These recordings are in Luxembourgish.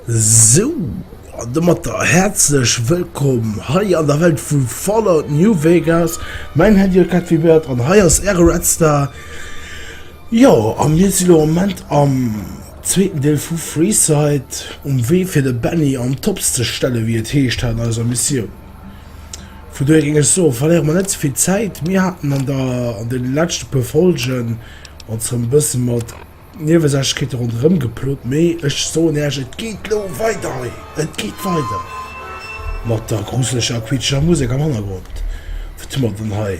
Sou, an domat der häerzlech Wëllkomm hei an der Welt vu Fallout New Vegas. Mäin Held jo Cat Vibert an hei ass äre Red Star. Jo, a mir sinn am Moment am zweeten Deel vu Freeside, um Wee fir de Benny an d'Tops ze stellen, wéi et heescht, hat an eiser Missioun. Vu dohier géing ech soen, verléiere mer net ze vill Zäit. Mir haten an der, an de leschte puer Folgen ons erëm e bësse mat Niewesächlechkeete ronderëm geplot, mee ech soen Iech, et geet elo weider hei. Et geet weider mat der gruseleger, quietscheger Musek am Hannergrond. Wat hu mer dann hei?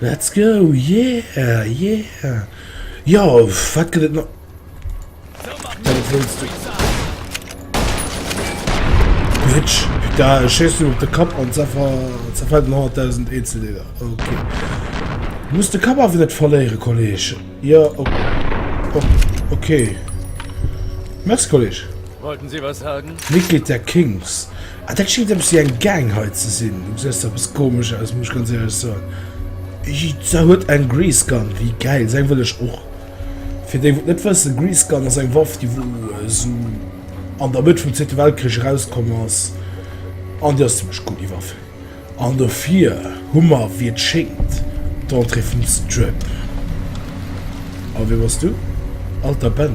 Let's go, yeah, yeah. Ja, wat gëtt et nach? Bitch, da schießt du op de Kapp an zerfällt 100.000 Einzeldeler. Okay. Du musst de Kapp awer net verléiere, Kolleg. Ja, okay. Okay. Merci, Kolleg. Wollten Sie was sagen? Mitglied der Kings. Ah, dat schéngt eppes wéi eng Gang hei ze sinn. Du gesäis eppes komesch aus, muss ech ganz ehrlech soen. Jizza huet eng Grease Gun, wéi geil, seng wëll ech och. Fir déi wou et net wëssen, Grease Gun ass eng Waff déi wou esou an der Mëtt vum zweete Weltkrich erauskomm ass, an déi ass zimmlech cool déi Waff. An dofir hu mer wéi et schéngt d'Entrée vum Strip. A wee bass du? Alter Ben?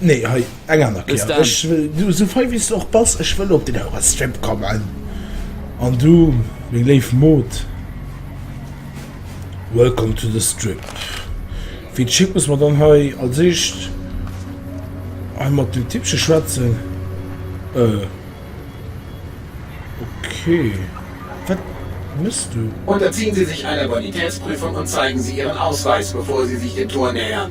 Nee, hei, eng aner Bis Kéier. dann. Ech wëll, du, sou fei wéi s de och bass, ech wëll op den Eurostrip kommen. An du, meng léif Mod, welcome to the Strip. Fir d'Schied muss mer dann hei als éischt hei mat dem Tippche schwätzen. Euh, okay, wat méchs du? Unterziehen Sie sich einer Bonitätsprüfung und zeigen Sie Ihren Ausweis, bevor Sie sich dem Tor nähern.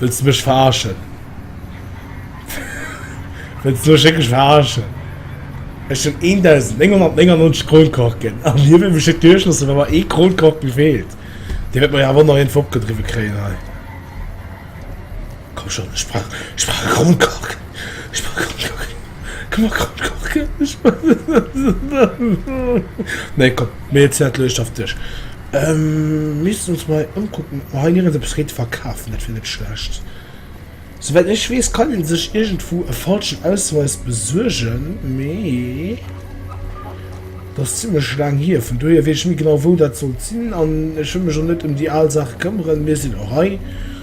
Wëlls de mech verarschen? Wëlls de mech wierklech verarschen? Ech hunn 1.999 Kronkorken a mir wëll mech net duerchloossen, well mer ee Kronkorken feelt? Dir wäert mer jo awer och nach een vu opgedriwwe kréien hei. Komm schon, ech brauch e Kronkorken! Nee, komm, mir hëtzen dat elo eescht of duerch. Missten ons mol hei ëmkucken, ob mer hei nirgends eppes ried verkafen, dat wir net schlecht. Souwäit ech wees kann een sech irgendwou e falschen Ausweis besuergen, mee dat ass zimlech laang hier, vun dohier wees ech ni genau wou dat sollt sin an ech wëll mech och net em déi aal Saach këmmeren. Mir sin och hei.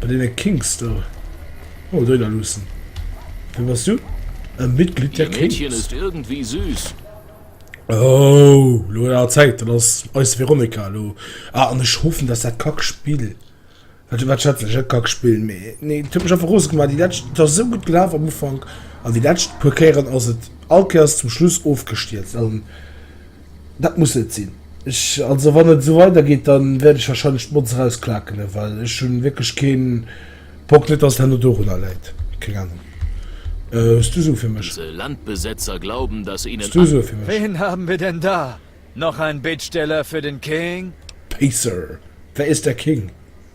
Bei deene Kings do. Oh, Döner Luussen, wien bass du? E Mitglied der Kings? Ihr Mädchen ist irgendwie süß. Oh, lo huet awer Zäit. Dat ass eis Veronika elo. Ah, an ech hoffen, dass dat Kackspill, wat, wat schätzen ech? Net Kackspill, mee nee, et huet mech einfach rose gemaach déi lescht. Et ass esou gutt gelaf am Ufank, an déi lescht puer Kéieren ass et all Kéiers zum Schluss ofgestierzt. Dat muss net sinn. Ech, also wann et esou weidergeet, dann wäert ech wahrscheinlech d'Motz eraus klakene, well ech hunn wierklech keen. Bock, net dass et herno dorunner läit, keng Ahnung. Hues du Sue fir mech? Dëse Landbesetzer glauben, dass ihnen Hues du Sue fir mech? Wen haben wir denn da? Noch ein Bittsteller für den King? Pacer, wer ist der King?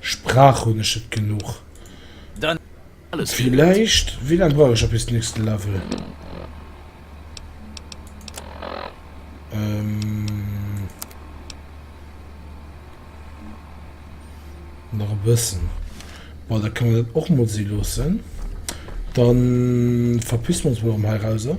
Sprach hun ech et genuch. Villeicht wéi lang brauch ech op bis nächsten Level? Nach e bëssen. Bon da kann mer dat och mol si loossen. Dann verpissen mer ons mol erëm heirauser.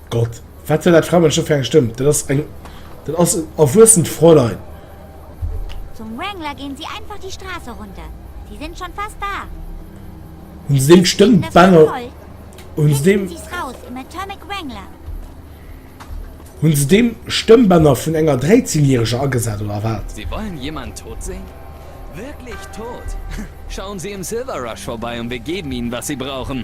Gott, wat war dat Frammel scho fir eng Stëmm? Dat ass eng, dat ass en erwuessent Fräulein. Zum Wrangler gehen Sie einfach die Straße runter. Sie sind schon fast da. Hunn se deem d'Stëmmbänder, hunn se deem, hunn se deem Stëmmbänder vun enger Dräizehnjähreger agesat oder wat? Sie wollen jemanden tot sehen? Wirklich tot? Schauen Sie im Silver Rush vorbei und wir geben Ihnen, was Sie brauchen.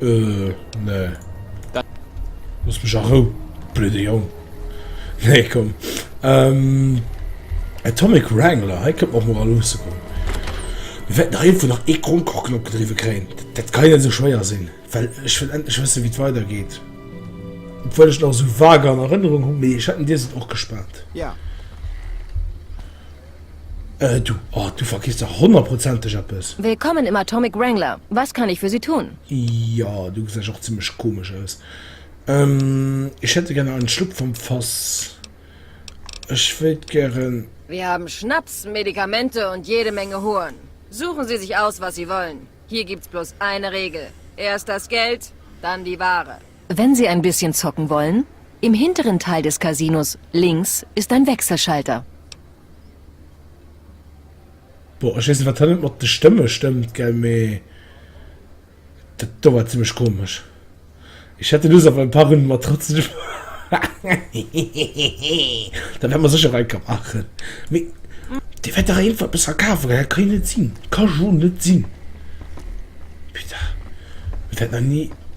Äh, nee. Looss mech a Rou, blöde Jong. Nee, komm. Ähm, Atomic Wrangler, hei kënnt och mol luusse goen. Mir wäerten nach iergendwou nach ee Grondkuchen opgedriwwe kréien. Dat ka jo net esou schwéier sinn, well ech wëll endlech wëssen, wéi et weidergeet. Obwuel ech et nach esou vage an Erënnerung hunn, mee ech hätt en Dier sot och gespaart. Ja. Äh du, oh du vergiss dach honnerprozenteg eppes. Willkommen im Atomic Wrangler, was kann ich für Sie tun? Jo, du gesäis och zimlech komesch aus. Ech hätte gären einen Schluck vom Fass. Ech wéilt gären. Wir haben Schnaps, Medikamente und jede Menge Hohn. Suchen Sie sich aus, was Sie wollen. Hier gibt's bloß eine Regel, erst das Geld, dann die Ware. Wenn Sie ein bisschen zocken wollen, im hinteren Teil des Casinos links ist ein Wechselschalter. Boah ech wees net wat hei net mat de Stëmme stëmmt gell mee dat do war zimmlech komesch. Ech hätte Lust op ein paar Runden Matratzen zu spillen hehehehe da wärt mer secher weiker machen mee dir wärt dach irgend eppes verkafen gell dat ka jo net sin, ka jo net sin putain dat wärt nach ni.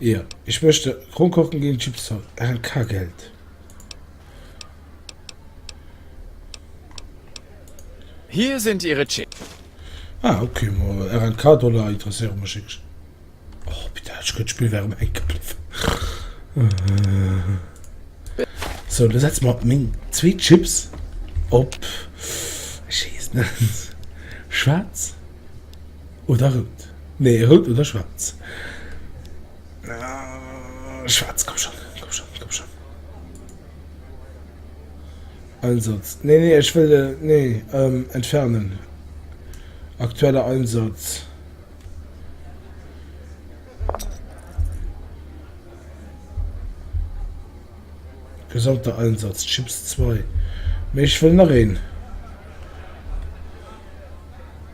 Ja, ich möchte Kronkorken gegen Chips haben. ALK Geld. Hier sind Ihre Chips. Ah, okay, mal RNK Dollar interessieren mich nicht. Oh, bitte, ich könnte Spiel wäre mir eingeblieben. So, dann setzen wir meine zwei Chips ob. Ich weiß nicht. Schwarz. Oder rout. Nee, rout oder schwaarz. Schwaarz, komm schonn, komm schonn, komm schonn. Einsatz. Nee, nee, ech wëll, nee, ähm, entfernen. Aktueller Einsatz. Gesamter Einsatz, Chips 2. Mee ech wëll nach een.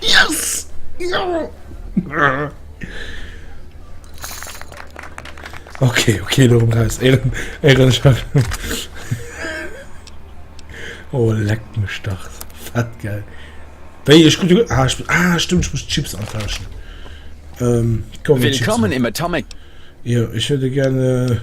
Yes! Okay, okay, lo raus. Ehren, Ehrenchef. oh, leck mich Start. Fett geil. Wei, ich gut, gut. Ah, ich, ah, stimmt, ich muss Chips antauschen. Ähm, komm, Willkommen im Atomic. Ja, ich hätte gerne.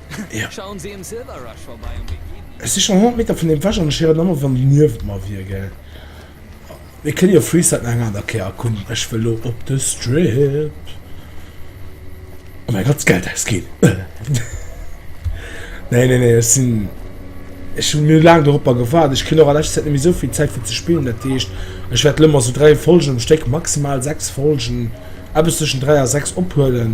Ech si schonn 100 Meter vun deem wech an ech héieren ëmmer wann déi niewent mer wier gell. Mir kënne jo Freestyle nach eng aner Kéier. Komm ech wëll lo op de Strip a mäi ganz Geld ausginn. Nee nee nee ech sinn, ech hunn mir laang doropper gewaart. Ech kritt och a leschter Zäit net méi souvill Zäit fir ze spillen. Dat heescht ech wäert lo mol sou 3 Folgen um Stéck, maximal 6 Folgen, eppes tëschent 3 a 6 ophuelen.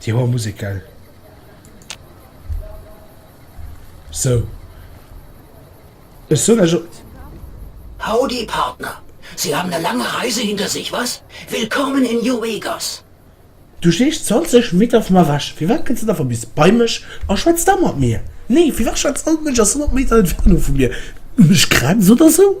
Déi hoer Musek gell. Sou ech soen esch op. Howdy Partner, Sie haben eine lange Reise hinter sich, was? Willkommen in New Vegas! Du steesch 20 Meter vu mer ewech, firwat kënns du net einfach bis bei mech a schwätz da mat mir? Nee, firwat schwätz all Mënsch aus 100 Meter Entfernung vu mir? Mech grenzt oder sou?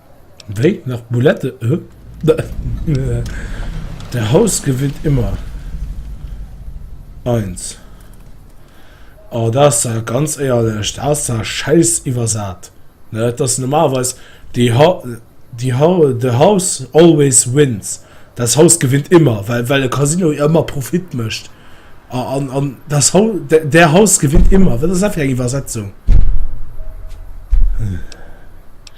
Wéi? Nach Boulette? Der Haus gewinnt immer! Eins. Oh, dat ass da ganz éierlech, dat ass da schäiss iwwersat. Dat ass normalerweis die ha, die ha, the house always wins, das Haus gewinnt immer, well well e Casino jo ëmmer Profit mécht. A an an das Hau, de der Haus gewinnt immer, wat ass dat fir eng Iwwersetzung?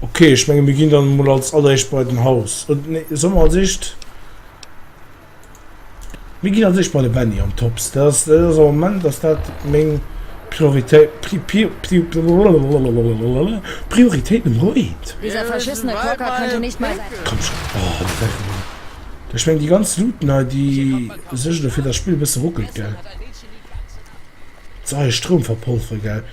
Okay, ech menge mir ginn dann mol als alleréischt bei den Haus. Oder oh, nee, soll mer als éischt. Mir ginn als éischt bei de Benny an Tops. Dat ass, dat ass am Moment ass dat meng Prioritéit. Pri, pri, pri, Prioritéit Nummer 1. Dieser verschissene Klocka könnte nicht mal sein. Komm schon. Oh, dat war cool. Ech meng déi ganz Luten hei, déi suergen dofir, dass d'Spill e bësse ruckelt, gell? Soi, Stroum verpolfere, gell?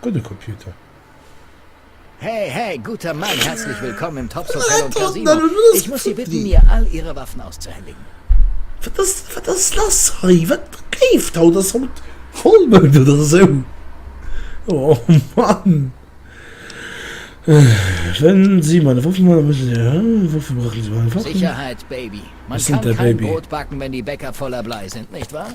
Gudde Computer. He he, guter Mann, herzlich willkommen im Tops Hotel und Casino. Ich muss Sie bitten, mir all Ihre Waffen auszuhändigen. Wat ass, wat ass lass hei? Wat léift haut? Ass haut Vollmound oder esou? Oh Mann! Wenn Sie meine Waffen wollen, müssen Sie Ihre Waffen brachen, Sie wollen Waffen? Sicherheit, Baby. Man kann kein Brot backen, wenn die Bäcker voller Blei sind, nicht wahr?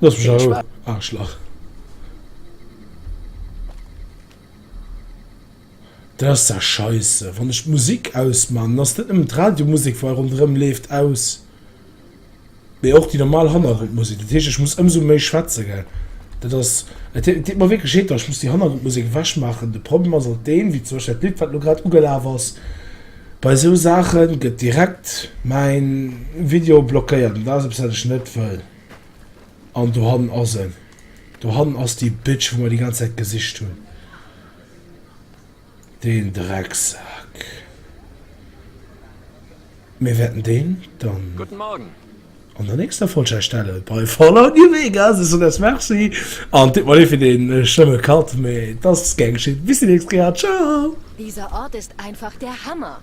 Lass mich Viel Spaß. Arschlach. Dat ass der Scheisse. Wann ech d'Musik ausman, ass net nëmmen d'Radiomusik wei ronderëm leeft aus. Mee och déi normal Hannergrondmusik. Dat heescht ech muss ëmsou méi schwätze gell. Dat ass et et deet mer wierklech leed, datt ech muss déi Hannergrondmusik ewechmaachen. De Problem ass alt deen, wéi zum Beispill dat Lidd wat elo grad ugelaf ass, Bei sou Saachen gëtt direkt mäin Video blockéiert an dat ass eppes wat ech net wëll. An dohannen ass en. Dohannen ass déi Bitch wou mer déi ganz Zäit gesicht hunn. Deen Drecksak. Mir wäerten deen dann. Guten Morgen. An der nächster Folg erstellen bei Fallout New Vegas es sodass merci an tipp mal ee fir den schlëmme Cut mee dass gern geschitt bis déi nächst Kéier ciao! Dieser Ort ist einfach der Hammer!